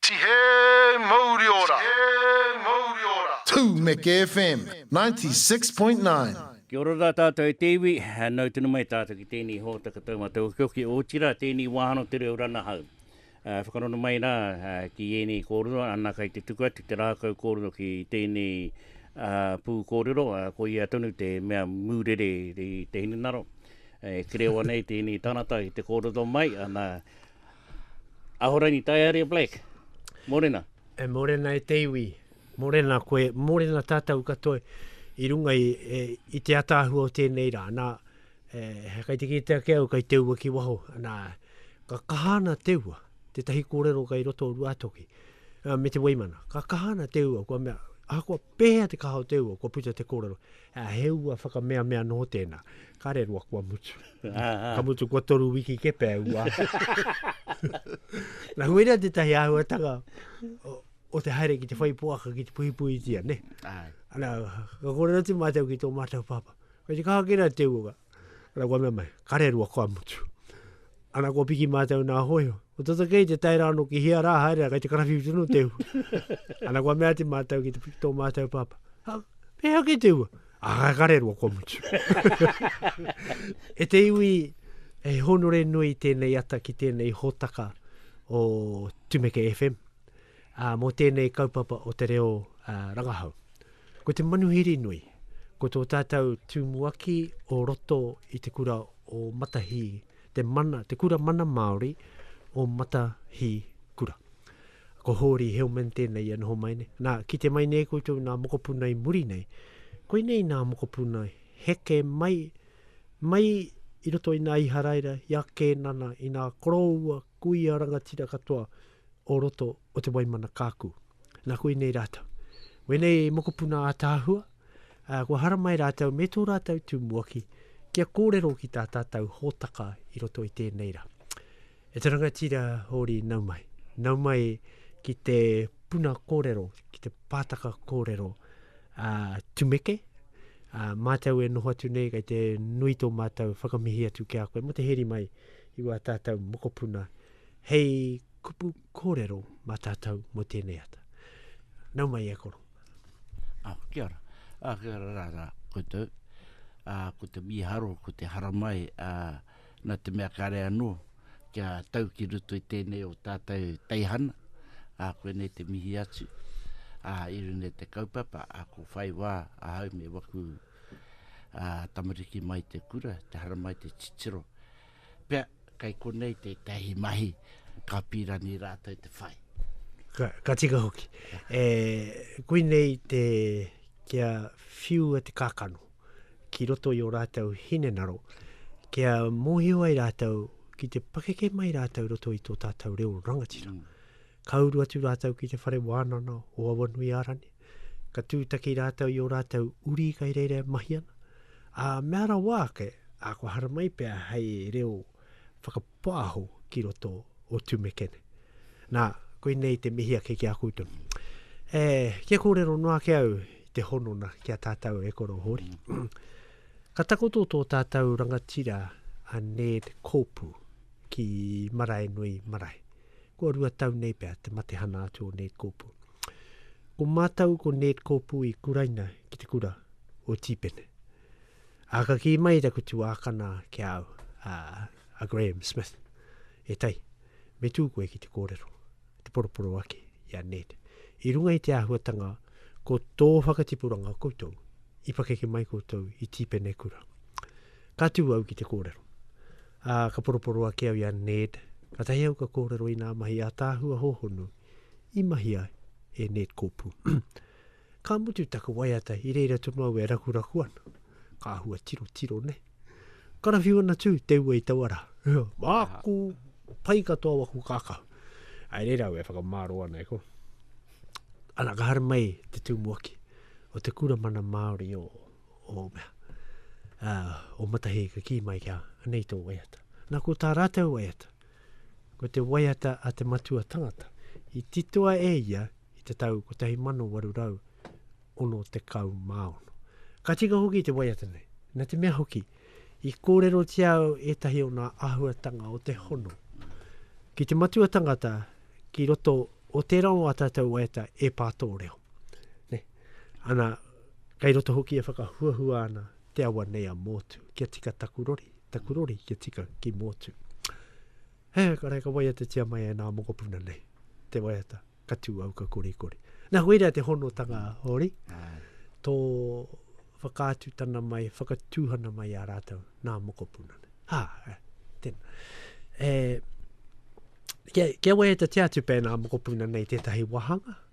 Tihe mouri ora! Tū Meke FM 96.9. Kia ora rā tātou e te iwi, nau tonu mai tātou ki tēnei hōtaka taumata okioki, otirā tēnei wāhano te reo ranahau. E whakarongo mai rā ki ēnei kōrero, ana kai te tuku atu te rākau kōrero ki tēnei pū kōrero, koia tonu te mea mūrere i te hinengaro. E kerēoa nei tēnei tangata i te kōrero mai, ana Ahorangi Taiaria Black, morena. E morena e te iwi. Morena koe, morena tatou katoa i runga i i te ataahua o tenei ra. Na, he kai te kite ake au kai te ua ki waho. Na, ka kaha ana te ua, tetahi korero kai roto o Ruatoki, me te Weimana. Ka kaha ana te ua, kua mea, ahakoa pehea te kaha o te ua, kua puta te korero. Ā, he ua whakameamea noho tēnā. Kāre roa kua mutu. Ka mutu kua toru wiki kē pea e ua atu. Nā, huirea tētahi āhuatanga o, o te haere ki te whai poaka, ki te puhipuhitia, nē. Āe. Ana, ka kōrero atu mātou ki tō mātou pāpā. Kei te kaha kē rā te ua, Ana kua mea mai, kare rua kua mutu. Ana kua piki mātou nā hoio. Ko tata kei te tae rāno ki hea rā haere, kei te karawhiu tino te ua. Ana kua mea te mātou ki te piki tō mātou pāpā. Ha, pēhea kei te ua? Ah, kare rua kua mutu. e te iwi, e honore nui tēnei ata ki tēnei hōtaka o Tumeke FM. ā, mō tēnei kaupapa o te reo rangahau. Ko te manuhiri nui, ko tō tātou tumuaki o roto i te kura o Matahī, te mana, te kura mana Māori o Matahī kura. Ko Hōri Hillman tēnei ia noho mai nei. Nā, kite mai nei koutou nā mokopuna i muri nei, koinei nā mokopuna heke mai, mai i roto i nā Iharaira, i a Kēnana, i nā koroua Ko ia rangatira katoa o roto o Te Waimana Kaaku. Na koinei ratou. Wenei e mokopuna ataahua, a, kua haramai ratou me to ratou tumuaki kia korero ki ta tatou hotaka i roto i tenei ra. E te rangatira hori nau mai. Nau mai ki te puna korero, ki te pataka korero a, tumeke, a, matou e noho atu nei kei te nui to matou whakamihi atu ki a koe mo te heri mai I wā tātou mokopuna hei kupu kōrero mā tātou mō tēnei ata. Nau mai e koro. Ah, kia ora. Ah, kia ora rā, rā, koutou. Ah, ko te mīharo, ko te haramai, ah, nā te mea kāre anō, kia tau ki ruto i tēnei o tātou teihana, ah, koe nei te mihi atu, ah, i rune te kaupapa, ah, ko whai wā, ahau me waku tamariki mai te kura, te haramai, te titiro. Pea, kai konei te tahi mahi, ka pirani rātou te whai. Ka, ka tika hoki. E, kui nei te, kia whiua te kākano, ki roto i o rātou hinenaro, kia mōhio ai rātou, ki te pakeke mai rātou roto i tō tātou reo rangatira. Mm. Ka uru atu rātou ki te whare wānana o Awanui Arani. ka tūtaki rātou i ō rātou uri kai reira e mahi ana, ā, mea rawa ake, ā, kua haramai pea hei reo whakapāho ki roto o Tumekene. Nā, koinei te mihi ake ki a koutou. E, kia kōrero noa ake au i te honona ki a tātou e koro Hōri. Ka takoto tō tātou rangatira a Ned Kōpu ki Maraenui marae. kua rua tau nei pea te matehana atu o Ned Kopu. Ko mātou ko Ned Kopu i kuraina ki te kura o Tīpene. A ka kī mai taku tuākana ki a au, a, a Graham Smith, e tai, me tū koe ki te kōrero, te poroporo ake i a Ned. I runga i te āhuatanga ko tō whakatipuranga koutou, i pakeke mai koutou i Tīpene kura. Ka tū au ki te kōrero. Ā, ka poroporo ake au i a Ned, kātahi au ka kōrero i ngā mahi ātaahua hōhonu i mahi ai e Ned Kopu. Ka mutu taku waiata i reira tonu au e rakuraku ana. Ka hua tiro tiro nei. Karawhiu ana tū te ua i taua rā. Māku, pai katoa waku kākau. Ai reira au e whakamāro ana e ko. Ana ka haramai te tūmuaki o te kura mana Māori o o mea, a, o Matahi ka kī mai kia, anei tō waiata. Nā, ko tā rātou waiata, ko te waiata a te matua tangata, i titoa e ia i te tau 1866. Ka tika hoki te waiata nei, na te mea hoki, i kōrero tia au ētahi o ngā āhuatanga o te hono. Ki te matua tangata, ki roto o tērā o ā tātou waiata e pā tō reo. Ne? Ana, Kei roto hoki e whakahuahua ana te awa nei a Mōtu, kia tika taku rori, taku rori kia tika ki Mōtu. He, ka reka waiata tia mai e nā mokopuna nei, te waiata, ka tū au ka kori kori. Nā hui rea te honotanga hori, tō whakaatutana mai, whakatūhana mai a rātou, nā mokopuna nei. Ha, e, tēnā. E, kia, kia waiata tia atu pēnā mokopuna nei tētahi wahanga,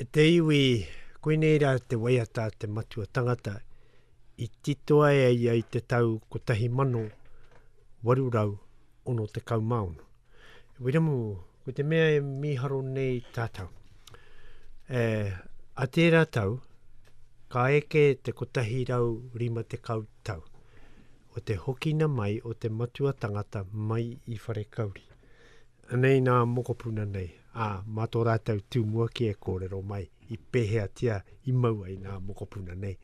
E te iwi, koinei rā te waiata a te matua tangata i titoa e a ia i te tau 1866. E Wiremu, ko te mea e mīharo nei tātou. E, a tērā tau, ka eke te 150 tau o te hokina mai o te matua tangata mai i Wharekauri. Anei nā mokopuna nei, ā, mā tō rātou tū mua kē e kōrero mai i pēheatia i mau ai nā mokopuna nei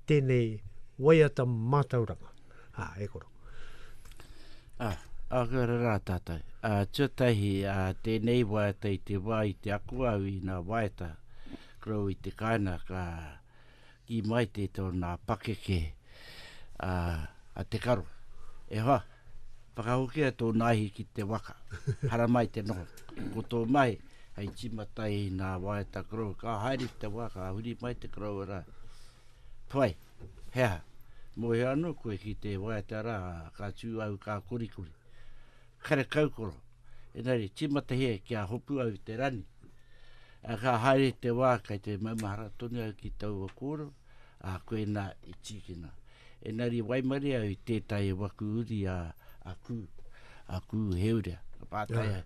tēnei waiata mātauranga, ā, e koro. Ā, ā, ka ora rā tātou. Ā, tuatahi, ā, tēnei waiata i te wā i te ako au i nā waiata, ko au i te kāinaka, ā, I mai te to na pakeke a a te karo. E hoa, whakahokia to naihi ki te waka. Haramai te noho. Ko to mahi, hei tima tai i na waeta koroua. Ka haere ki te wa, ka huri mai te koroua ra. Puai, he aha? Mohio ano koe ki te waeta ra, ka tu au ka korikori. Karekaukoro, engari timatahia ki a hopu au i te rani. A ka haere te wā kai te maumahara tonu au ki taua kōrero, a koena i tīkina. Engari waimarie au i tētahi waku uri a, a Kū, a Kū Heurea. Ka pātai ai,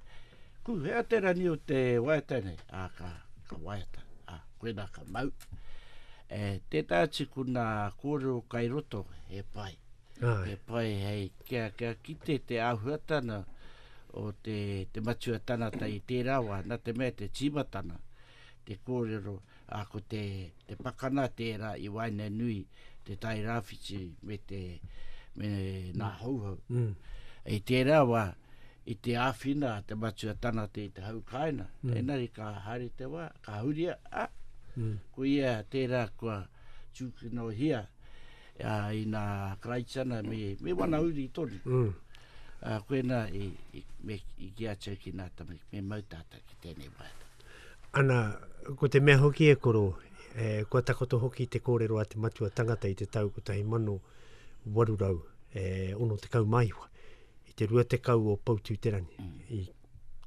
Kū, hea te rani o te waiata nei? A ka, ka waiata. A koena ka mau. E, tētahi atu ko nā kōrero kai roto, he pai. He pai hei Kia, kia kite te āhuatana o te, te matua tangata i tērā wā, nā te mea te tīmatana, te kōrero, ā, ko te, te pakana tērā i waenganui te tai rāwhiti me te, me nā Hauhau. Mm. I tērā wā, i te āwhina te matua tangata i te hau kāina, mm. engari ka haere te wā, ka huria, a, mm. ko ia tērā kua, tūkinohia i nā Karaitiana me wana uri tonu. Ā, koinā i, i, me, i ki a Turkey nā tamariki, me mau tātou ki tēnei waiata. Ana, ko te mea hoki e koro, e, kua takoto hoki te kōrero a te matua tangata i te tau 1869, i te 20 o Poutū-te-rangi, mm. i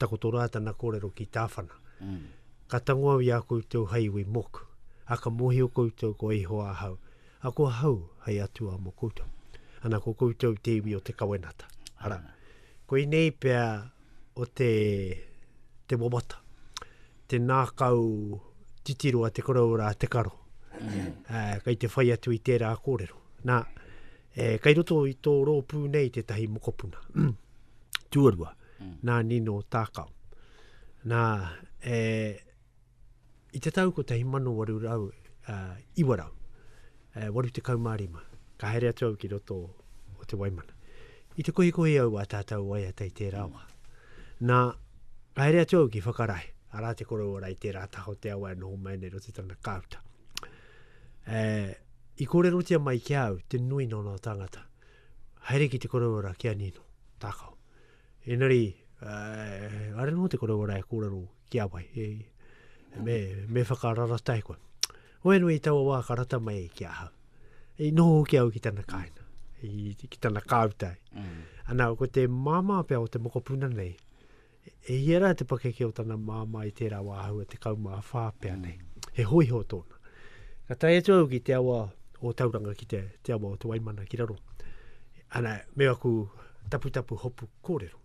takoto rā tana kōrero ki Tāwhana. Mm. Ka tango au i a koutou hei iwi moku, a ka mōhio koutou ko Ihoa ahau, a ko ahau hei atua mō koutou. Ana ko koutou te iwi o te kawenata. Ara, ko inei pea o te, te wawata, te nākau titiro a te korou rā te karo. Mm. Uh, kei te whai atu i tērā kōrero. Nā, e, kei roto i tō rōpū nei tētahi mokopuna. Tuarua. nā Nino Tākao. Nā, e, i te tau 1809, e, 85, ka haere atu au ki roto o te Waimana. I te kohikohi au a tātou waiata i tērā wā. Nā, ka haere atu au ki Whakarae, arā te korou ora i tērā taha o te awa e noho mai nei roto tana kāuta. E, i kōrerotia mai ki au te nui nō nō tāngata. Haere ki te korou ora ki a Nino, tākao. Engari, uh, are no te kore wara e kōrero ki a wai. E, me, me whakararatai koe. Oe nui i taua wā ka rata mai ki a hau. I noho hoki au ki tana kāina, i, ki tana kāutai. Mm. Ana, ko te māmā pia o te mokopuna nei, e hia rā te pakeke o tana māmā i tērā wā hau e te kaumā whā pia nei. Mm. He hoiho tōna. Ka tai atu au ki te awa o Tauranga, ki te, te awa o te Waimana ki raro. Ana, me aku Taputapu hopu kōrero.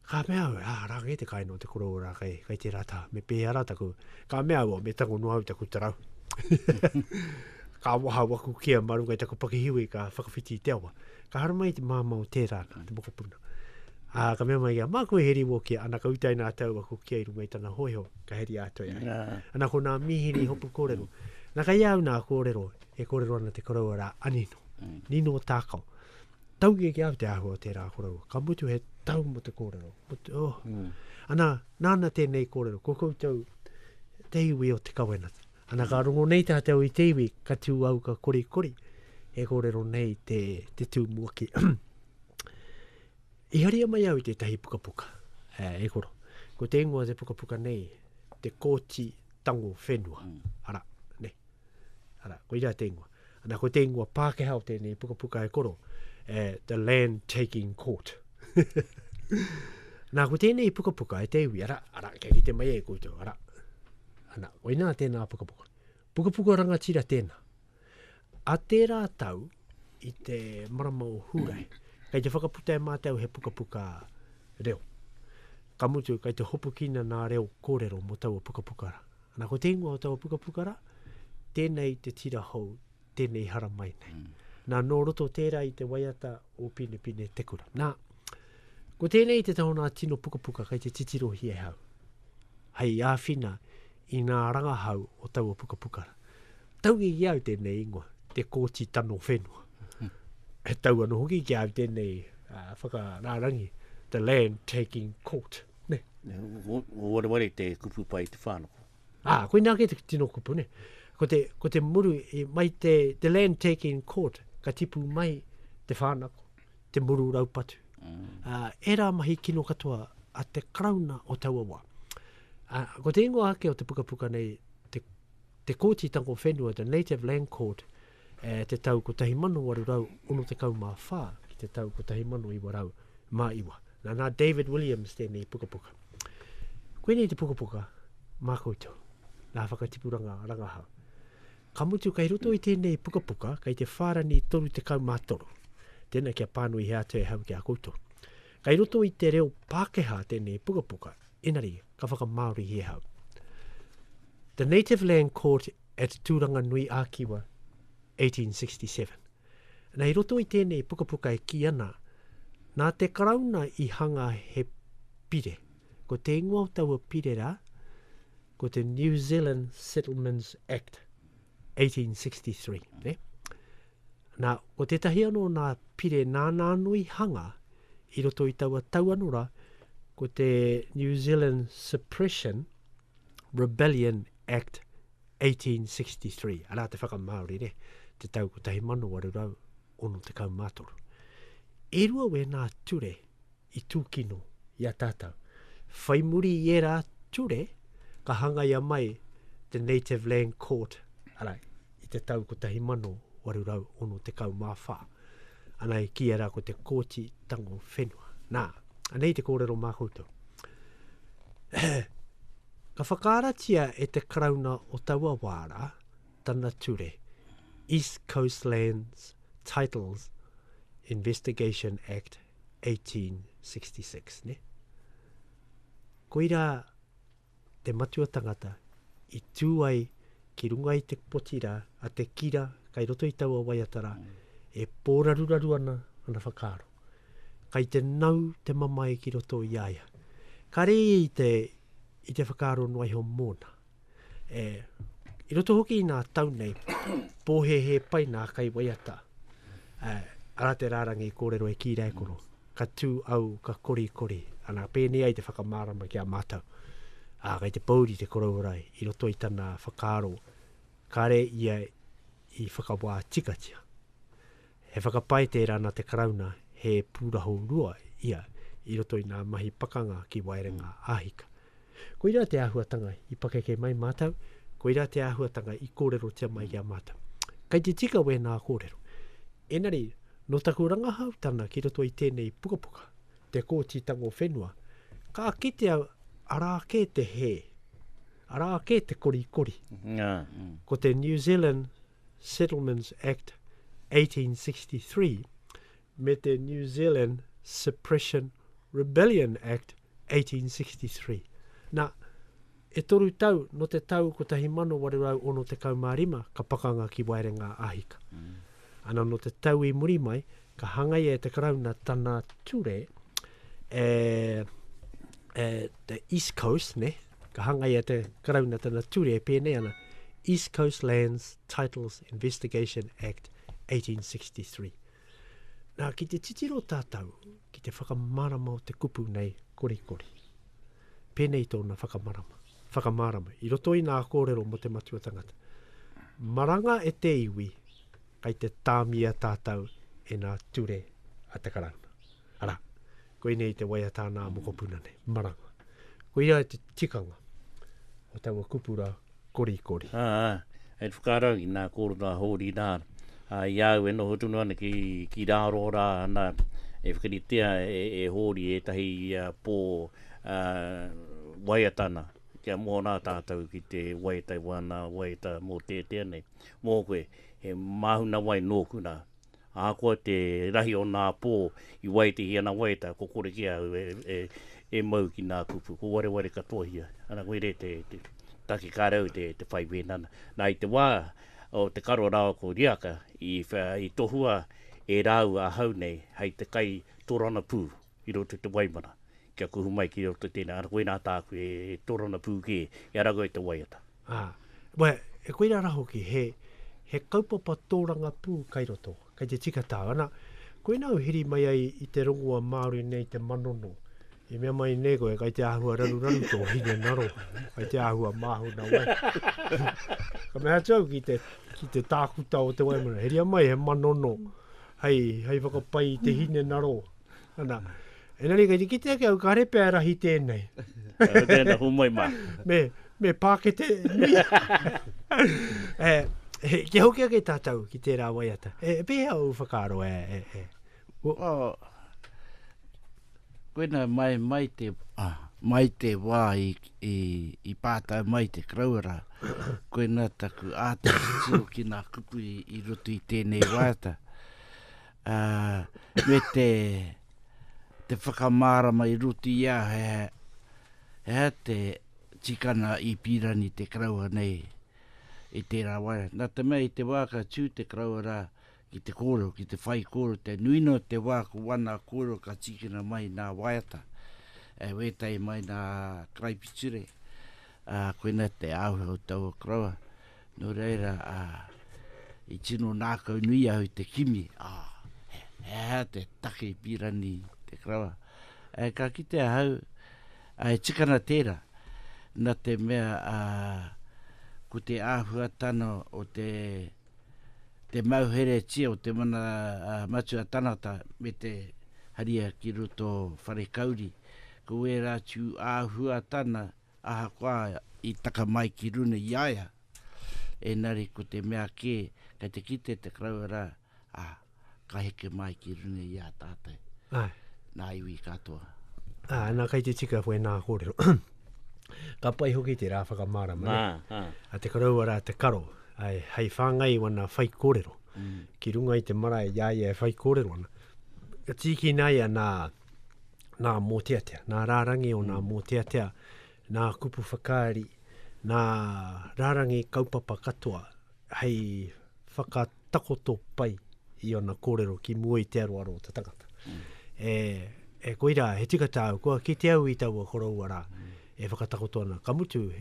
Ka mea au, ā, rā kei te kai nō te korou rā, kei, kei tērā tā, me pēhea rā taku, ka mea au, me tango noa au taku tarau. ka waha waku kia mā runga i taku pakihiwi, ka whakawhiti i te awa. Ka hara mai te māmā o tērā, nā, te mokopuna. Ā, ka mea mai kia, māku e heri wō kia, ana ka utai nā tau aku kia i runga i tana hōiho, ka heri ātou e ai. Ana ko nā mīhini hopu kōrero. Nā, kei au nā kōrero, e kōrero ana te korou rā, a Nino. Nino Tākao. Taunga eke au te āhua o tērā koroua. Ka mutu he tau mo te kōrero. Mutu, oh. Mm. Ana, nāna tēnei kōrero, ko koutou te iwi o te kawenata. Ana, ka rongo nei tātou i te iwi, ka tū au ka kori kori, e kōrero nei te, te tū mua ki. I haria mai au i tētahi pukapuka, eh, e koro. Ko te ingoa te pukapuka nei, te kōti tango whenua. Mm. Ara, ne. Ara, koira te ingoa. Ana, ko te ingoa Pākehā o tēnei pukapuka e koro, e The Land Taking Court. Nā, ko tēnei pukapuka e te iwi, ara, ara, kia kite mai e koutou, ara. Ana, koinā tēnā pukapuka. Pukapuka rangatira tēnā. A tērā tau, i te marama o Hūrae, kei te whakaputa e mātou he pukapuka reo. Ka mutu, kei te hopukina nā reo kōrero mō taua pukapuka rā. Ana ko te ingoa o taua pukapuka ra, Tenei te tira hou, tenei hara mai nei. Mm. Na no roto tera i te waiata o Pinepine te kura. Na, ko tenei te taho na tino pukapuka kai te titiro hi e hau. Hai awhina i nga rangahau o taua pukapuka ra. Tau i au tenei ingoa, te koti tano whenua. E tau ano hoki ki au tenei uh, whakararangi, the land taking court. ne? Ko wareware te kupu pai te whanoko. Ā, ah, koina ake te tino kupu, ne? Ko te, ko te muru, i, mai te, te land taking court, ka tipu mai te whanako, te muru raupatu. Mm. Uh, e rā mahi kino katoa a te karauna o taua wā. Uh, ko te ingoa ake o te pukapuka nei, te, te kōti tango whenua, the Native Land Court, e te tau 1864 ki te tau 1909. Nā, nā David Williams tēnei pukapuka. Koinei te pukapuka mā koutou, nā whakatipuranga rangahau. Ka mutu kei roto i tēnei pukapuka, kei te whārani 33. Tēnā kia pānui he atu e hau ki a koutou. Kei roto i te reo Pākehā tēnei pukapuka, inari ka whakamāori i e hau. The Native Land Court at Tūranganui-ā-Kiwa, 1867. Nei i roto i tēnei pukapuka e kī ana, nā te Karauna i hanga he pire, ko te ingoa o taua pire rā, ko te New Zealand Settlements Act, 1863. Ne? Nā, ko tētahi anō nā pire nāna anō i hanga i roto i taua tau anō rā, ko te New Zealand Suppression Rebellion Act 1863, arā te whakamāori ne, te tau 1863. E rua wēnā ture i tūkino i a tātou. Whai muri i ērā ture, ka hangaia mai The Native Land Court, arā, i te tau 1864. Ana i kīia rā ko te Kōti Tango Whenua. Nā, anei te kōrero mā koutou. Ka whakaaratia e te Karauna o taua wā rā tana ture East Coast Lands Titles Investigation Act 1866, ne? Koirā te matua tangata i tū ai ki runga i te poti rā a te kira kai roto i taua waiata rā, mm. e pōraruraru ana ana whakaaro. Kai te nau te mamae ki roto i aia. Ka re i te, i te whakaaro noa iho mōna. E, i roto hoki i nā tau nei, pōhehe pai nā kai waiata. E, ara te rārangi kōrero e kīra e koro. ka tū au ka korikori, ana pēnei ai te whakamārama ki a mātou. Ā, kei te pōuri te korourai i roto i tana whakaaro, kāre ia i whakawā tikatia. He whakapae tērā nā te Karauna he pūrahorua ia i roto i ngā mahi pakanga ki Waerenga Āhika. Koirā te āhuatanga i pakeke mai mātou, koirā te āhuatanga i kōrerotia mai ki a mātou. Kei te tika wēnā kōrero. Engari, nō taku rangahautanga ki roto i tēnei pukapuka, Te Kōti Tango Whenua, ka kitea arā kē te hē, arā kē te korikori. Ko te New Zealand Settlements Act 1863, me te New Zealand Suppression Rebellion Act 1863. Nā, e toru tau, nō te tau 1865 ka pakanga ki Waerenga a Hika. Mm. Ana nō te tau i muri mai, ka hangaia e te Karauna tana ture e, e the East Coast, ne? ka hangaia te Karauna tana ture e pēnei ana, East Coast Lands Titles Investigation Act 1863. Nā, ki te titiro tātou ki te whakamārama o te kupu nei, korikori. Pēnei tōna whakamārama, whakamārama, i roto i ngā kōrero mō te matua tangata. Maranga e te iwi, kai te tāmia tātou e ngā ture a te karauna. Arā, koinei te waiata ana a mokopuna nei, maranga. Koia te tikanga o taua kupura korikori. Ā, hei whakarau i nā kōrero a Hōri rā, ā, i a au e noho tonu ana ki, ki rāro rā, nā, e whakaritea e, e Hōri ētahi pō, ā, waiata ana, kia moho rā tātou ki te waiata i wāna waiata mōteatea nei. Mō koe, he māhunawai nōku rā, Ahakoa te rahi o nā pō i waetehi ana waeta, ko Korekē au e mau ki nā kupu, ko Wareware katoa ia. Ana koe re te take kāre au te whai wēna ana. Nā i te wā o te karo rāua ko Riaka i tohua e rāua ahau nei hei te kai toranapū. i roto i te waimana, kia kuhu mai ki roto i tēnei, ana koinā tāku e torona pū kē, i a rāua e te waiata. Ā, wai, e koirā rā hoki, he, he kaupapa tōrangapū kai roto, kai te tika tāu, ana, koinā u hiri mai ai i te rongoa Māori nei te manono, i mea mai nei koe, kai te āhua raruraru tō hinengaro, kai te āhua māhuna wai. ka mea atu au ki te, ki te tākuta o te waimana, heria mai he manono, hei, hei whakapai i te hinengaro, Ana, engari kei te kite ake au, ka repe a rahi tēnei. Kei tēnei, humai mā. me, me pākete nui. e, he, kia hoki ake tātou ki tērā waiata. E, e pēhea au whakaaro, e, e, e. O, oh, koina mai, mai te, ah, mai te wā i, i, i pātai mai te karauara, koina taku āta ki nā kupu i, i roto i tēnei waiata. ā, me te, te whakamārama i roto i a hea, hea te tikanga i pīrani te karaua nei i tērā wā. Nā te mea i te wā ka tū te karaua rā ki te kōrero, ki te whaikōrero, te nui noa te wā ko wana kōrero ka tīkina mai nā waiata, e wētai mai nā karaipiture, Ā, koinā te āhua o taua koroua, nō reira, ā, i tino ngākau nui au i te kimi, ā, he aha te take i pīra nei i te koroua? Ā, ka kite ahau, ā, e tika ana tērā, nā te mea, ā, ko te āhuatana o te, te mauheretia o te mana matua tangata me te haria ki roto wharekauri, ko ērā atu āhuatana, Ahakoa i taka mai ki runa i a ia, engari ko te mea kē, kei te kite te karaua rā, ā, ka heke mai ki runa i a tātou. Āe. Nā iwi katoa. Ā, nā, kei te tika koe nā kōrero. Ka pai hoki te rā whakamārama, nē? Nā, ā. A te karaua rā te karo, āe, hei whāngai i wana whaikōrero, ki runga i te marae i a ia e whaikōrero ana, ka tīkina ia nā. nā Mōteatea, nā Rārangi o nā mm. Mōteatea, nā Kupu Whakaari, nā Rārangi kaupapa katoa, hei whakatakoto pai i ana kōrero ki mua i te aroaro o te tangata. Mm. E, e koirā, he tika tāu, kua kite au i taua koroua rā. Mm. E whakatakoto ana, ka mutu,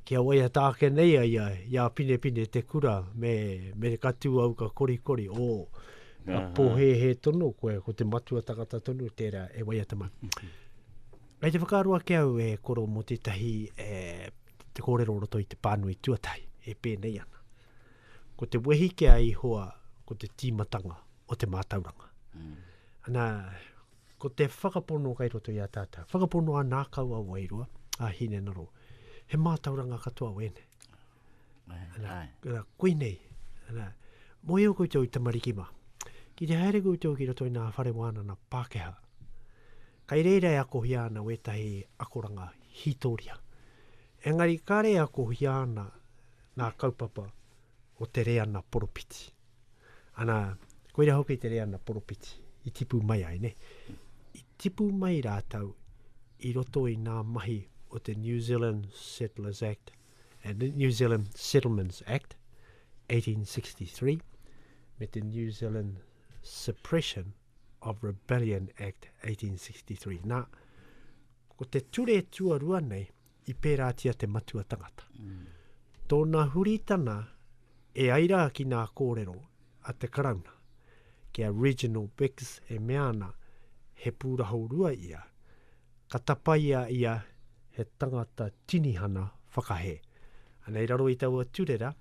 kia waiata ake nei a ia i a Pinepine te kura, me, me ka tū au ka korikori, o, ka pōhēhē tonu koe, ko te matua tangata tonu tērā e waiata mai. Kei te whakaaro ake au e koro mō tētahi, e, te kōrero roto i te pānui tuatahi, e pēnei ana. Ko te wehi ki a Ihoa, ko te tīmatanga o te mātauranga. Ana, Ko te whakapono kai roto i a tātou, whakapono a nākau a wairua, a Hinengaro, he mātauranga katoa wēnei. Ana, ana, koinei, ana, moe o koutou i tamariki mā. Ki te haere koutou ki roto i nā whare wānana Pākehā, kai reira e akohia ana wētahi akoranga hītoria. Engari kāre e akohia ana nā kaupapa o te reana poropiti. Ana, koira hoki te reana poropiti, i tipu mai ai, ne? I tipu mai rātau i roto i nā mahi o te New Zealand Settlers Act, uh, New Zealand Settlements Act, 1863, me te New Zealand Suppression of Rebellion Act, 1863. Nā, ko te ture tuarua nei, i pērātia te matua tangata. Mm. Tōna huritana e ai rā ki nā kōrero a te karauna, ki a Reginald Biggs e mea ana, he pūraho rua ia, ka tapaia ia he tangata tinihana whakahē. Anei raro i taua turera,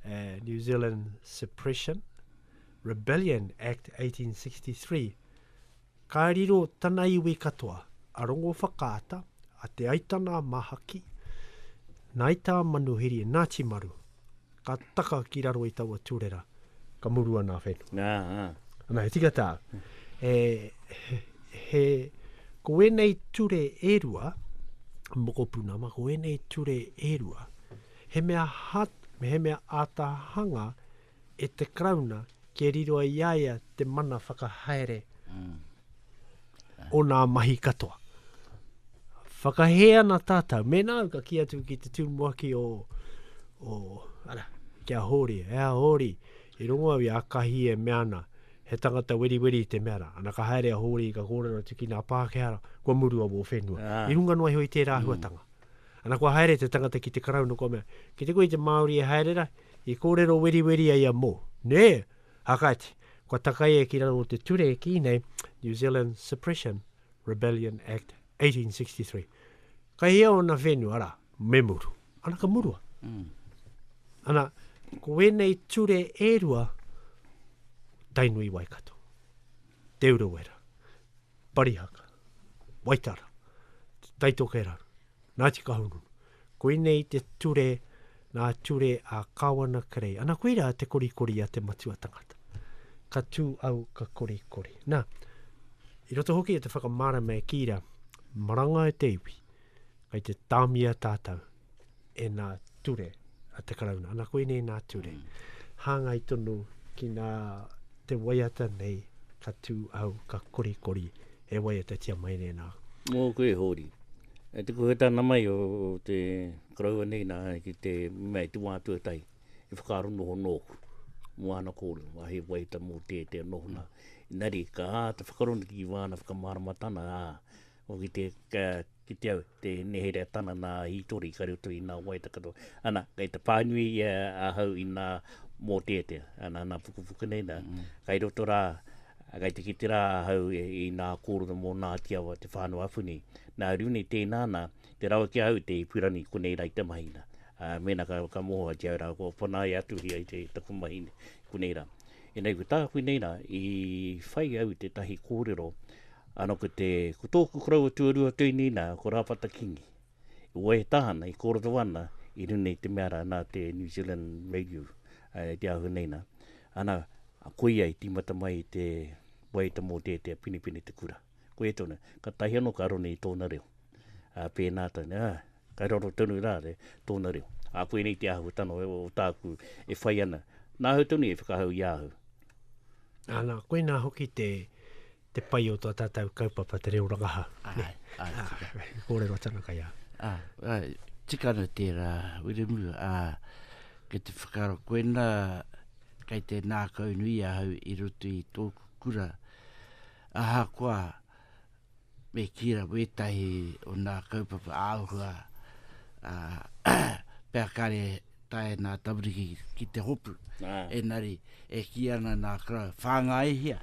uh, New Zealand Suppression, Rebellion Act 1863, Ka riro tana iwi katoa, a Rongowhakaata, a Te Aitana-a-Mahaki, Naita Manuhiri e Nati Maru, ka taka ki raro i taua turera, ka muru ana a whenua. Nga, a. Ana, he tika ta, e, he, he, ko enei ture e rua, mokopuna, ma ko enei ture e rua, he mea hat, he mea atahanga, e te Karauna kia riro i a ia te mana whakahaere o nā mahi katoa. Whakahē ana tātou, mēnā au ka ki atu ki te tūmuaki o, o ara, ki a Hōri, e a Hōri, i rongo au i a Kahi e mea ana, he tangata weriweri te mea rā. Ana ka haere a Hōri ka kōrero atu ki nā Pākehā, kua murua wō whenua. Ah. I runga noa iho i tērā mm. huatanga. Ana kua haere te tangata ki te karauna, kua mea, ki te koe te Māori e haere ra, I kōrero weriweri ai a Moore, nē, ā kāti, kua takai e ki raro o te ture e kī nei New Zealand Suppression Rebellion Act 1863. Ka hia ōna whenua, arā, me muru. Ana ka murua. Ana, ko ēnei ture e rua, Tainui Waikato, Te Urewera, Parihaka, Waitara, Taitokerau. Ngāti Kahungunu. Koinei te ture, ngā ture a Kāwana Kerei. Ana koirā te korikori a te matua tangata. Ka tū au ka korikori. Nā, i roto hoki e te whakamārama e Kīra, maranga e te iwi, kei te tāmia tātou e nā ture a te Karauna. Ana koinei nā ture. Hāngai tonu ki nā te waiata nei ka tū au, ka korikori e waiatatia mai nei nā. Mō koe e Hōri. E te kuhu tana mai o te Karaua nei nā ki te mea i te wā tuatahi i whakaaro noho nōku mō āna kōrero a he waiata mō tētea nohona. Engari ka āta whakaronaki ki wāna whakamāramatanga, ā, Ko ki te kite au, te nehere a tana nā hītori kare utu i nā wai takato. Ana, kei te pānui ia ahau i nā mōteatea, ana, nā pukupuku nei nā. Mm. Kai roto rā, kai te kite rā ahau i nā kōrero mō nā tiawa te whānau apu nei. Nā Rune tēnā nā, te rawa ki ahau te ipurani konei rā i te mahi nā. Uh, mēnā ka, ka mohoa ki au rā, kua panaia atu hia i te taku mahi konei rā. E nei, ko tāku nei rā, i whai au te tahi kōrero, Ano ko te, ko tōku koroua tuarua tuini na, ko Rapata Kingi. I waiata ana, i koroto ana i runei te mea ra na te New Zealand Radio, e te ahu nei na. Ana, koia i timata mai i te waiata mo tētea penepene te kura. Koia tonu, ka tahi ano ka roni i tōna reo. A, pēna tonu, a, ka raro tonu ra re, tōna reo. A, koinei te āhuatano o tāku e whai ana, na ahau tonu e whakahau i a au. Ana, koina hoki te, te pai o tō tātou kaupapa te reo rangahau. Ai, ai, ah, tika. He kōrero tana kai a. Ah, ai, tika ana tērā, Wiremu, ah, ke te whakaro koena, kei te nākau nui ahau i roto i tōku kura, aha koa, me kira wētahi o nā kaupapa āhua, ah, pea kare tae nā Tamariki ki te hopu, engari e kī ana nā Crowe, whāngaihia,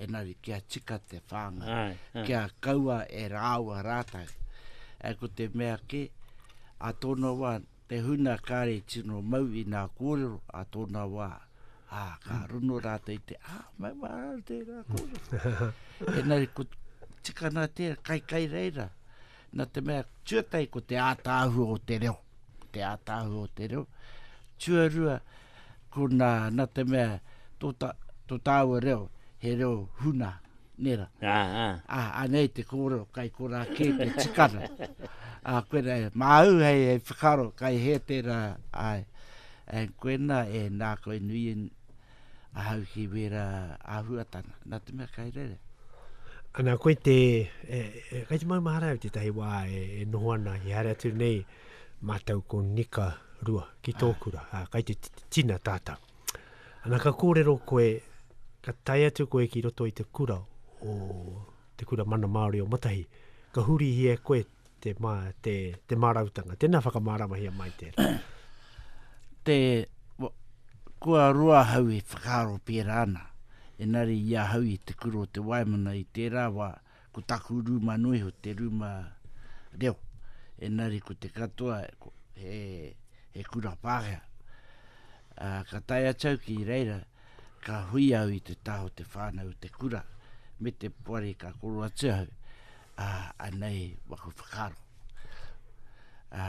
engari kia tika te whāngai, ai, ai. kia kaua e rāua rātou. E ko te mea kē, a tōna wā, te huna kāre tino mau i nā kōrero a tōna wā, ā, ka mm. runo rātou i te, ā, mai wā rā tērā kōrero. engari, ko tika nā tērā, kai kai reira, nā te mea, tuatai ko te ātāhua o te reo. te ātahu o te reo. Tuarua, ko nā, nā te mea, tō, ta, tō tāua reo, he reo huna, nera. Ā, ā. Ā, anei te kōrero, kai korā kē te tikana. Ā, koina, e, māu hei, hei whakaro, kai he tērā, ai, e, koina, e, nā koe nui, ahau ki wērā āhuatanga, nā te mea kai rere. Ana koe te, e, e, kai te maumahara au tētahi wā e, e noho ana ki haere atu nei mātou ko Nika Rua ki tōkura, ah. kai te tina tātou. Ana ka kōrero koe, ka tai atu koe ki roto i te kura o te kura mana Māori o Matahi, ka hurihia e koe te, mā, te, te mārautanga. Tēnā whakamāramahia mai tērā. te, kua roa hau e whakaaro pērā ana. Enari i a hau i te kura o te waimana i tērā wā, ko taku rūma noa iho te rūma reo. Enari ko te katoa he, he kura pākea. Uh, ka tae atau ki reira, uh, Ka hui au i te taha o te whānau o te kura me te poari ka koro atu au, ā, anei waku whakaaro. Ā,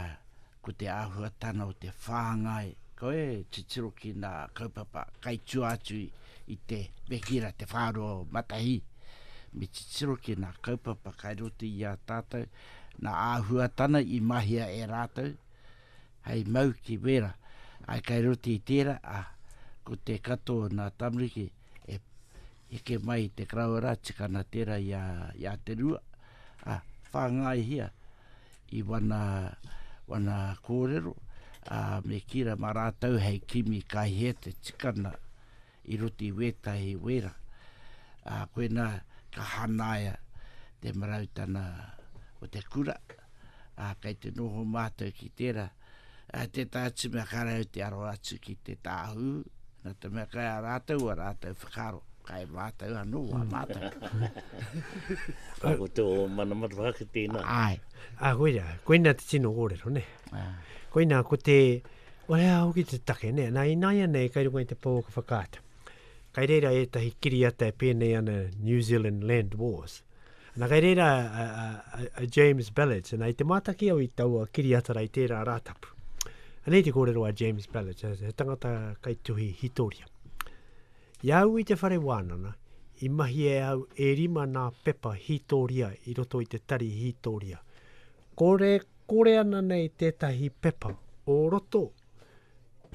ko te āhuatana o te whāngai, koe e titiro ki nā kaupapa kai tua atu i te Pekira te whāroa o Matahī. Me titiro ki nā kaupapa kai roto i a tātou, nā āhuatana i mahia e rātou, hei mau ki wera, ai kai roti i tera, a, ko te kato na tamariki e heke mai i te karawera tika na tera i a, i a te rua, a, whangai hia i wana, wana korero, a, me kira ma ratou hei kimi kai he te tika na, I roto i wētahi wera, ā, koinā ka hangaia te marautanga o te kura, ā, kei te noho mātou ki tērā. Ā, tētahi atu mea ka raru te aro atu ki te tāhū, nā te mea kai a rātou ua rātou whakaaro, kai mātou anō wā mātou. Ka ko tō mana matapaki tēnā. Āe. Ā, koirā, koinā te tino kōrero, nē. Ā. Koinā ko te. O hea hoki te take, nē? Nā, ināianei, kai runga i te pou o ka whakaata. Kai reira ētahi kiriata e pēnei ana New Zealand Land Wars. Nā, kai reira a, a, a, a James Ballard, nā, i te mātaki au i taua kiriata rai tērā rātapu. Anei te kōrero a James Ballard, he tangata kai tuhi hitoria. I au i te whare wānana, i mahi e au e rima nā pepa hitoria i roto i te tari hitoria. Kore Kore ana nei tētahi pepa o roto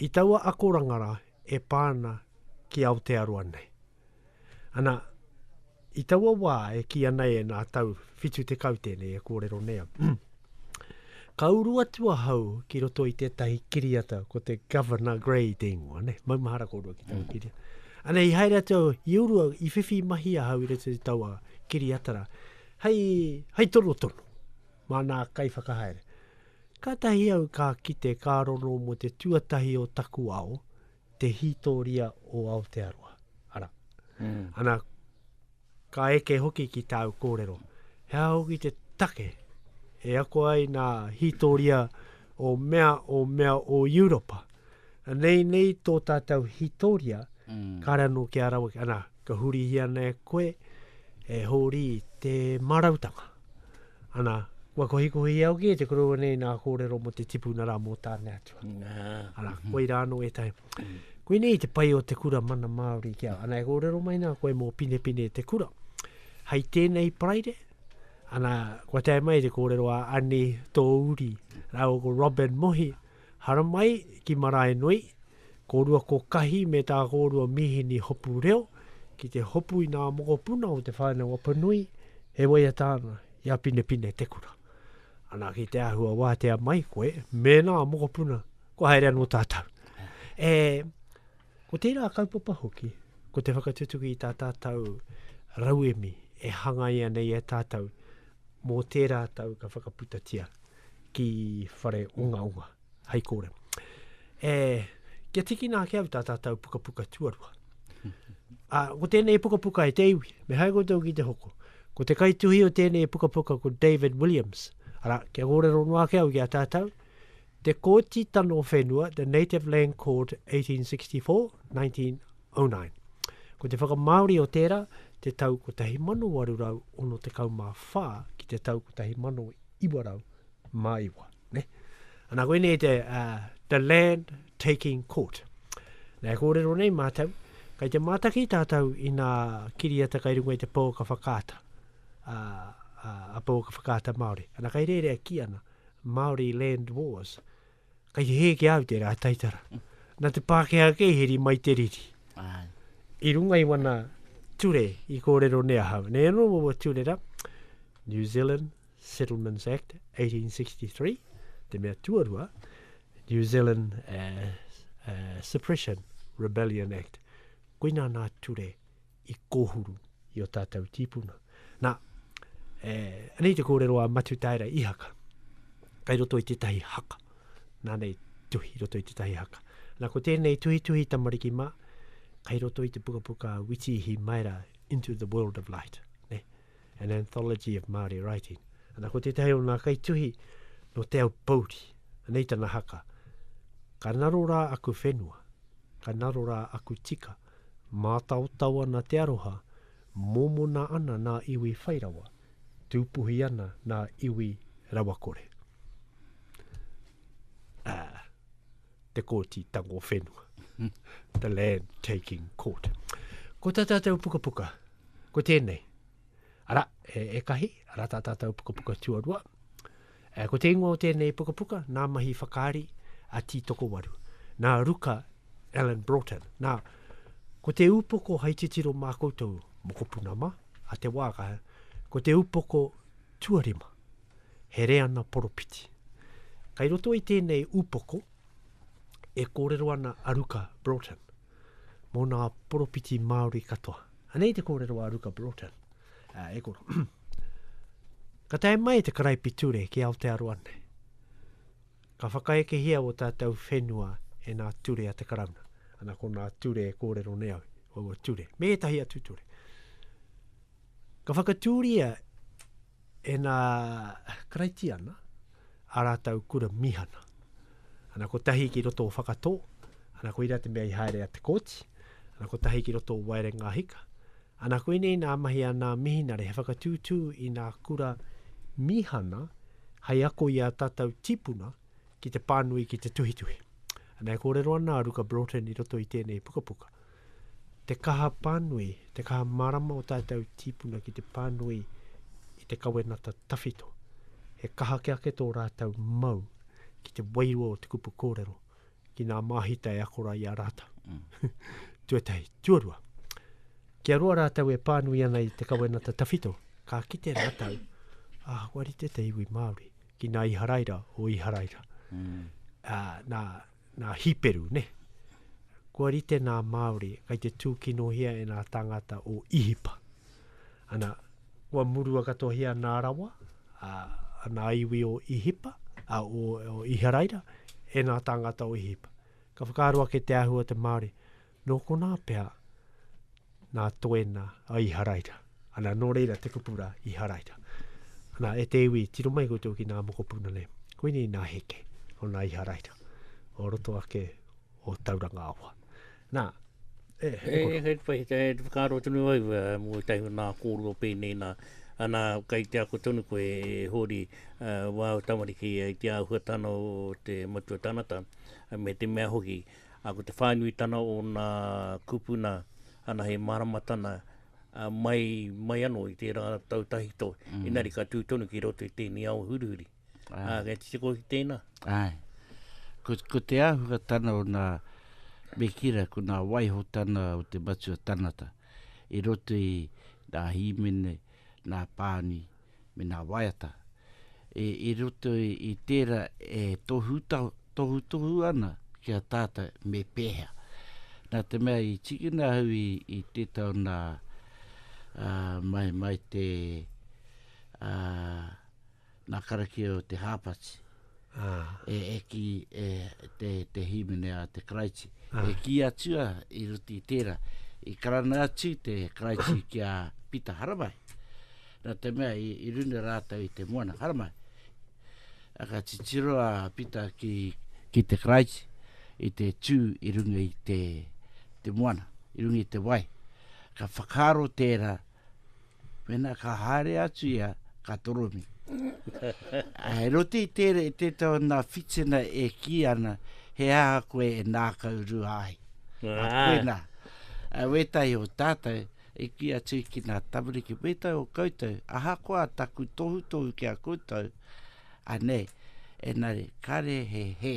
i taua akoranga rā e pā ana ki Aotearoa nei. Ana, i taua wā e kīia nei e nā tau 70 tēnei e kōrero nei ana, ka uru atu ahau ki roto i tētahi kiriata ko te Governor Grey Dingwa, ne, maumahara kōrua ki taua kiriata. Ana, i haere atu au, i uru au, i whiwhi mahi ahau i roto i taua kiriata rā, hei, hei tonotono. Māna Kaiwhakahaere. Kātahi au ka kite ka rono mō te tuatahi o taku ao, te hītōria o Aotearoa. Arā. Ana, ka eke hoki ki tāu kōrero, he aha hoki te take e ako ai nā hītōria o mea, o mea o Europa? Anei nei tō tātou hitoria, kāre anō kia rawe, anā, ka hurihia ana e koe, e Hōri, te mārautanga. Anā, kua kohikohi au ki te koroua nei nā kōrero mō te tipuna rā mō Tāne Atua. Anā, koirā anō ētahi. Koinei te pai o te kura mana Māori ki a, anā, e kōrero mai nā koe mō Pinepine te kura. Hei tēnei Paraire, anā, kua tae mai te kōrero a Ani Tōuri rāua ko Robyn Mohi, Haramai ki Maraenui, kōrua ko Kahi me tā kōrua mīhini hopu reo, ki te hopu i ngā mokopuna o Te Whānau-a-Panui, e waiata ana i a Pinepinetekura. Ana ki te āhua wātea mai koe, mēnā mokopuna, kua haere anō tātou. E, ko tērā kaupapa hoki, ko te whakatutuki i tā tātou rauemi e hangaia nei e tātou, mō tērā tau ka whakaputatia. ki whare ungaunga, hei kore. E, kia tikina ake au tā tātou pukapuka tuarua. A, ko tēnei pukapuka e te iwi, me hai koutou ki te hoko. Ko te kaituhi o tēnei pukapuka ko David Williams. Ara, kia kōrero noa ake au ki a tātou. Te Kōti Tano Whenua, The Native Land Court, 1864, 19... 09. Ko te whakamāori o tērā, te tau 1864 ki te tau 1909. Ne? Anā, koe nei te uh, The Land Taking Court. Nā, e kōrero nei mātou, kai te mātaki tātou i nā kiriata kai runga i te pō ka whakaata, a, a, a pō ka whakaata Māori. Anā, kai rērea ki ana, Māori Land Wars, Kei hē ki a au tērā taitara. Nā te Pākehā kē i heri mai te riri. Āe. I runga i wana ture i kōrero nei ahau. Nei anō waua ture rā, New Zealand Settlements Act 1863, te mea tuarua, New Zealand uh, uh, Suppression Rebellion Act. Koina nā ture i kōhuru i o tātou tīpuna. Nā, e, anei te kōrero a Matutaera i haka, kai roto i tētahi haka, nā nei tuhi roto i tētahi haka. Nā, ko tēnei tuhi tuhi tamariki mā, kai roto i te pukapuka Witi Hi Maera, Into the World of Light, ne? an anthology of Māori writing. Nā, ko tētahi o nā kai tuhi no te au pouri, anei tana haka, ka narora aku whenua, ka narora aku tika, Mātaotao ana te aroha, mōmona ana nā iwi whai rawa, tūpuhi ana nā iwi rawakore. Ah, te kōti tango whenua. the land taking court. Ko tā tātou pukapuka, ko tēnei. Ara, e, e kahi, ara tā tātou pukapuka tuarua. Ko te ingoa o tēnei pukapuka, nā Mahi Whakaari a Tītokowaru, nā Ruka Allan Broughton. Nā, ko te upoko hai titiro mā koutou mokopuna mā, a Te Waaka, ko te upoko tuarima, he reana poropiti. Kai roto i tēnei upoko, e kōrero ana a Ruka Broughton. mō ngā poropiti Māori katoa. Anei te kōrero a Ruka Broughton, uh, e koro. Ka tae mai te karaipiture ki Aotearoa nei. Ka whakaekehia o tātou whenua e nā ture a te karauna. Ana ko nā ture e kōrero nei au, o ua ture, me etahi atu ture. Ka whakatūria e nā Karaitiana ā rātou kura mīhana. Ana kotahi ki roto o Whakatō, ana koira te mea i haere a te kōti, ana kotahi ki roto o Waerenga Hika, ana koinei nā mahi a nā Mihinare he whakatūtū i nā kura mīhana hai ako i a tātou tīpuna ki te pānui ki te tuhituhi. Ana e kōrero ana a Ruka Broughton i roto i tēnei pukapuka. te kaha pānui, te kaha marama o tātou tīpuna ki te pānui i te kawenata tawhito. He kaha ke ake tō rātou mau ki te wairua o te kupu kōrero, ki nā māhita e akora i a rātou. Mm. Tuatahi, tuarua. Ki a roa rātou e pānui ana i te kawenata tawhito, ka kite rātou, ah, wari te te iwi Māori, ki nā Iharaira o Iharaira. Mm. Uh, nā, nā Hiperu, ne? Kua rite nā Māori, kai te tūkinohia e nā tāngata o Ihipa. Ana, kua murua katohia nā rawa, a, a nā iwi o Ihipa, a, o, o Iharaira, e nā tāngata o Ihipa. Ka whakaaro ake te āhua te Māori, Nō konā pea nā Toena a Iharaira. Ana, nō reira te kupu rā, Iharaira. Ana, e te iwi, tiro mai koutou ki nā mokopuna nei. Koinei nā Heke, o nā Iharaira, o roto ake o Tauranga Awa. Nā, e, e, e, e, e, e, e, e, whakaaro tonu au, e, mō i tahi nā kōrua pēnei nā, ana, kai te ako tonu koe, e, Hōri, e, wā o tamariki, e, te āhuatana o te matua tanata, me te mea hoki, Ā, ko te whānuitana o ngā kūpuna anahe māramatana mai, mai anō i tērā tau tahito, mm. inari ka tū tonu ki roto i tēnei ao hurihuri. Ai. Ā, kei te tiko ki tēnā. Ai. Ko, ko te āhuatana o ngā mekira, ko ngā waihotana o te matua tanata, i roto i ngā hīmene, ngā pāni, me nā waiata. I roto i tērā e tohutohu ana ki a tātou me pēhea. Nā te mea i tikina au i tētā o nā mai te nā karakia o te hāpati. e eki e te, te hīmene a te Karaiti. Ah. E ki atua i ruti tērā, i karana atu te Karaiti ki a Pita Haramai. Nā te mea i, i runa rātou i te moana Haramai. A ka titiro a Pita ki, ki te Karaiti i te tū i runga i te, te moana, i runga i te wai. Ka whakaro tērā, Pena ka haere atu ia, ka toromi. He roti i tere e te tau na whitsena e ki ana, he aha koe e nākau rua ai. A koe na, a wetahi o tātou, i ki atu ki nā tamariki wetahi o koutou, ahakoa taku tohutohu ki a koutou, anei, enari, kare he he.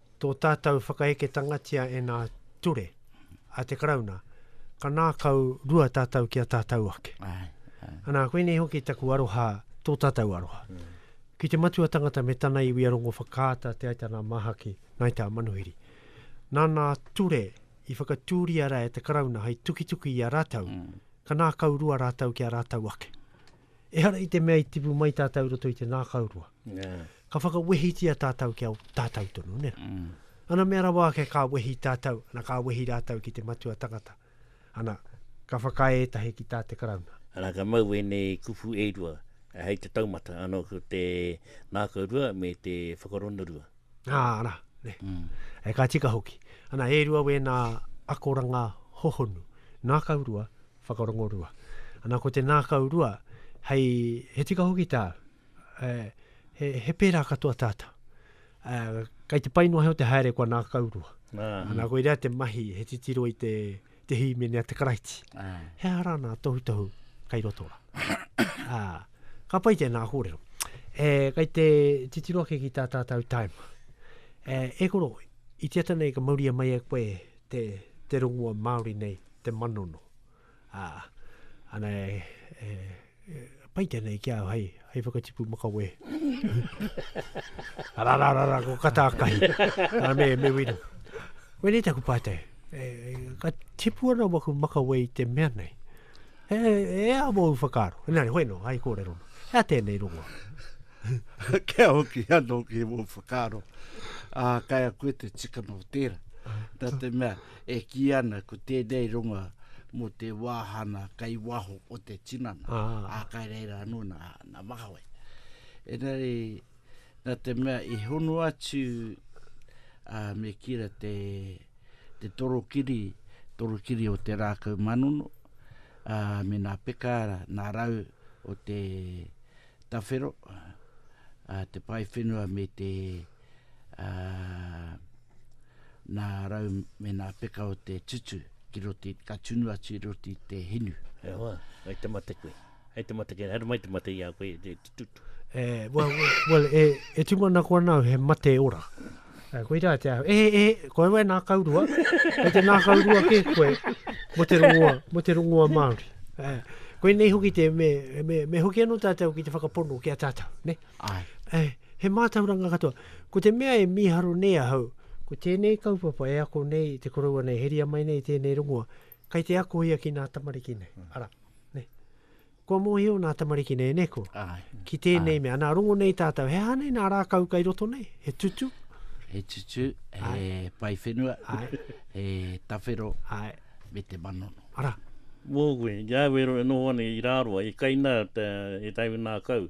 Tō tātou whakaeketangatia e nā ture a te Karauna, ka nākau rua tātou ki a tātou ake. Ai, ai. Anā, koinei hoki taku aroha, tō tātou aroha. Mm. Ki te matua tangata me tana iwi a Rongo Whakaata, Te Aitana Mahaki, Ngai Tā Manuhiri. Nā nā ture i whakatūria ra e te Karauna hai tukituki i a rātou, mm. ka nākau rua rātou ki a rātou ake. ehara i te mea i tipu mai tātou roto i te nākaurua. Yeah. Ka whakawehitia tātou kia tātou tonu, ne? Mm. Ana mea rawa ake ka wehi tātou, ana ka wehi rātou ki te matua tangata. Ana, ka whakae etahi ki tā te karauna. Ana ka mau e nei kupu e rua, hei te taumata, ano ko te nākaurua me te whakaronurua. Nā, ana, ne. Mm. E ka tika hoki. Ana, e rua wēnā akoranga hohonu, nākaurua Whakarongorua. Ana ko te nākau rua, hei, he tika hoki tā, e, he, he pērā katoa tātou. E, kei te pai noa o te haere kua nākau rua. Ah. Ana ko irea te mahi, he titiro i te, te hīmene a te karaiti. Ah. He ara nā tohutohu kei roto ra. ah. Ka pai tēnā kōrero. E, kei te titiro ake ki tā tātou taima. E, e koro, i te ata nei ka mauria mai e koe te, te rongua Māori nei. te manono. Ā, ana e, e, e pai tēnei ki au hei, hei whakatipu makawē. ara, ara, ara, ko kata kahi. Ara me, me wina. Wene taku pātai, e, e, ka tipu ana waku makawē i te mea nei. E, e a mou whakaro. Nā, hoi no, hai kōrero. E a tēnei rongo. Kia hoki anō ki mou whakaro. Ā, kai a koe te tikana o tēra. Nā te mea, E kī ana ko tēnei ronga mō te wāhana kei waho o te tinana, ah. ā, kai reira anō nā, nā makawe. Engari, nā te mea i hono atu a me kira te, te torokiri, torokiri o te rākau manono, a me nā pekaara, nā rau o te tawhero, a te pae whenua me te ā, nā rau me nā peka o te tutu ki roti, ka tunu atu i roti te hinu. E hoa, hei te mate koe. Hei te mate koe, haere mai te mate i a koe, te tutu. E, well, well, e, e tūmanako ana au he mate ora. E, koirā te aho. E, e, koe wai nā kaurua. Hei te nā kaurua ke koe, mo te rongoa, mo te rongoa Māori. E, koe nei hoki te, me, me, me hoki anō tātou ki te whakapono ki a tātou, ne? Ne? Āe. Āe, he mātauranga katoa. Ko te mea e mīharo nei ahau, ko tēnei kaupapa e ako nei te koroua nei, heria mai nei tēnei rongoa, kei te ako ia ki nā tamariki nei. Mm. Ara, ne. Kua mōhio nā tamariki nei, ne ko? Āe. Ki tēnei Āe. mea, nā rongo nei tātou, he aha nei nā rākau kai roto nei? He tutu? He tutu, he Āe. pai whenua, Āe. he tawhero, Āe. me te manono. Ara. Mō koe, i a au e noho ana i Rāroa, i Kaina, te, e Taiwinākau,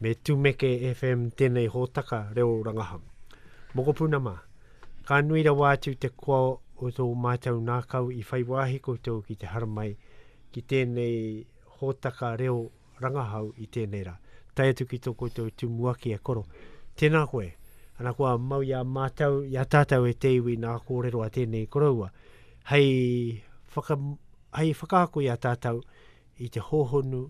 Me Tumeke FM tēnei hōtaka reo rangahau. Mokopuna mā, ka nui rawa atu te koa o tō mātou ngākau i whai wāhi koutou ki te haramai ki tēnei hōtaka reo rangahau i tēnei rā. Tai atu ki tō koutou tumuaki e koro. Tēnā koe, ana kua mau i a mātou, i a tātou e te iwi nā kōrero a tēnei koroua, hei, whaka, hei whakaako i a tātou, i te hōhonu,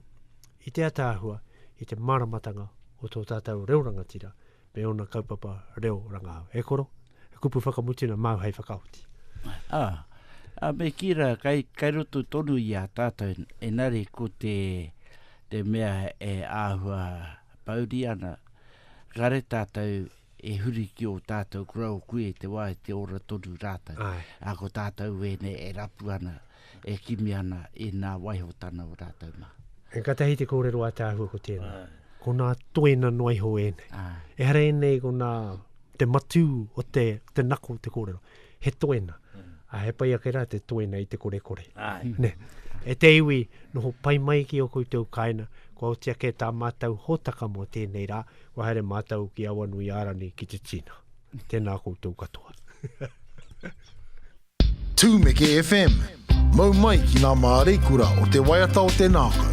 i te ataahua, i te māramatanga o tō tātou reo rangatira me ōna kaupapa reo rangahau. E koro, he kupu whakamutunga māu hei whakaoti. Ah, a me kī rā, kai, kai roto tonu i a tātou, engari ko te, te mea e āhua pouri ana, kare tātou e huri ki ō tātou korau kui i te wā i te ora tonu rātou. Ai. Ā, ko tātou wēnei e rapu ana, e kimi ana i nā waihotana o rātou mā. E katahi te kōrero ātaahua ko tēnā. Ai. Ko nā toena noa iho ēnei. Ai. Ehara ēnei ko nā te matū o te, te nako o te kōrero. he toena. A he pai ake rā te toena i te korekore. Ai. Ne. E te iwi, noho pai mai ki o koutou kaena, kua oti ake tā mātou hōtaka mō tēnei rā, kua haere mātou ki Awanui Ārani ki te Tina. Tēnā koutou katoa. Tumeke FM, mau mai ki ngā māreikura o te waiata o te nākau.